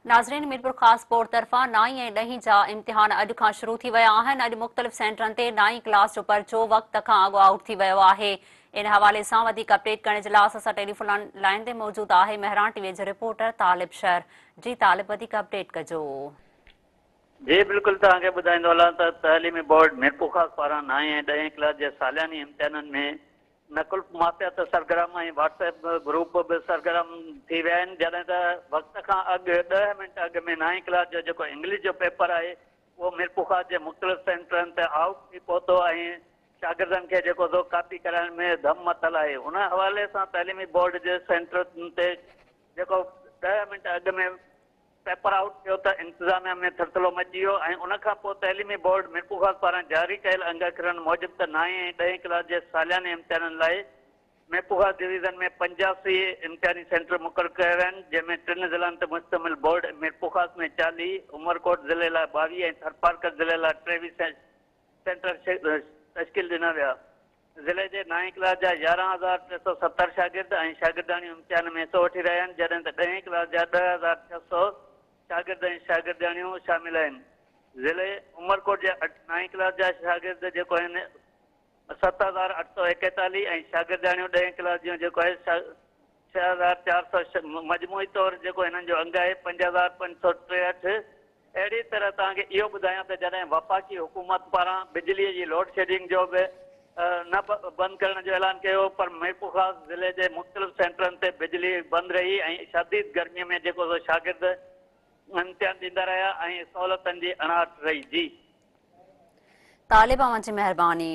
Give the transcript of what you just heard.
ناظرين ميرپورخاص بورڊ طرفان نائين ۽ ڏهين جا امتحان اڄ کان شروع ٿي ويا آهن اڄ مختلف سينٽرن تي نائين ڪلاس جو پرچو وقت کان اڳ آئوٽ ٿي ويو آهي ان حوالي سان وڌيڪ اپڊيٽ ڪرڻ جي لاء اسان سان ٽيليفون لائن تي موجود آهي مهران ٽي وي جو رپورٽر طالب شهر جي طالب وڌيڪ اپڊيٽ ڪجو جي بلڪل توهان کي ٻڌائيندو هلان ته تعليمي بورڊ ميرپورخاص پاران نائين ۽ ڏهين ڪلاس جي سالياني امتحانن ۾ نقل مافيا ته سرگرم ۽ واٽس ايپ گروپ به سرگرم ٿي ويا آهن جڏهن ته وقت کان اڳ ڏهه منٽ اڳ ۾ نائين ڪلاس جو جيڪو انگلش جو پيپر آهي اهو ميرپورخاص جي مختلف سينٽرن تي آئوٽ ٿي پهتو ۽ شاگردن کي جيڪو سو ڪاپي ڪرائڻ ۾ ڌم مٿل آهي ان حوالي سان تعليمي بورڊ جي سينٽرن تي جيڪو ڏهه منٽ اڳ ۾ پيپر آئوٽ ٿيو ته انتظاميا ۾ ٿرٿلو مچي ويو ۽ ان کان پوء تعليمي بورڊ ميرپورخاص پاران جاري ڪيل انگ اکرن موجب ته نائين ۽ ڏهين ڪلاس جي سالياني امتحانن لاء ميرپورخاص ڊويزن ۾ پنجاسي امتحاني سينٽر مقرر ڪيا ويا آهن جنهن ۾ ٽن ضلعن تي مشتمل بورڊ ميرپورخاص ۾ چاليهه، عمرڪوٽ ضلعي لاء ٻاويهه ۽ ٿرپارڪر ضلعي لاء ٽيويهه سينٽر تشڪيل ڏنا ويا. ضلعي جي نائين ڪلاس جا يارهن هزار ٽي سؤ ستر شاگرد ۽ شاگردياڻيون امتحان ۾ حصو وٺي رهيا آهن، جڏهن ته ڏهين ڪلاس جا ڏهه هزار ڇهه سؤ شاگرد ۽ شاگردياڻيون شامل آهن. ضلعي عمرڪوٽ جي نائين ڪلاس جا شاگرد جيڪو آهن ست هزار اٺ سؤ ايڪيتاليهه ۽ شاگردياڻيون ڏهين ڪلاس جون جيڪو آهي ڇهه هزار چار سؤ ڇهه مجموعي طور جيڪو هنن جو انگ آهي پنج هزار پنج سؤ ٽيهٺ اهڙي طرح توهان کي اهو ٻڌايان ته جڏهن وفاقي حڪومت پاران بجلي جي لوڊ شيڊنگ جو به نه بند ڪرڻ جو اعلان ڪيو هو پر ميرپورخاص ضلعي جي مختلف سينٽرن تي بجلي بند رهي ۽ شديد گرمي ۾ جيڪو سو شاگرد امتحان ڏيندا رهيا ۽ سهولتن جي اڻاٺ رهي جي طالب اوهان جي مهرباني.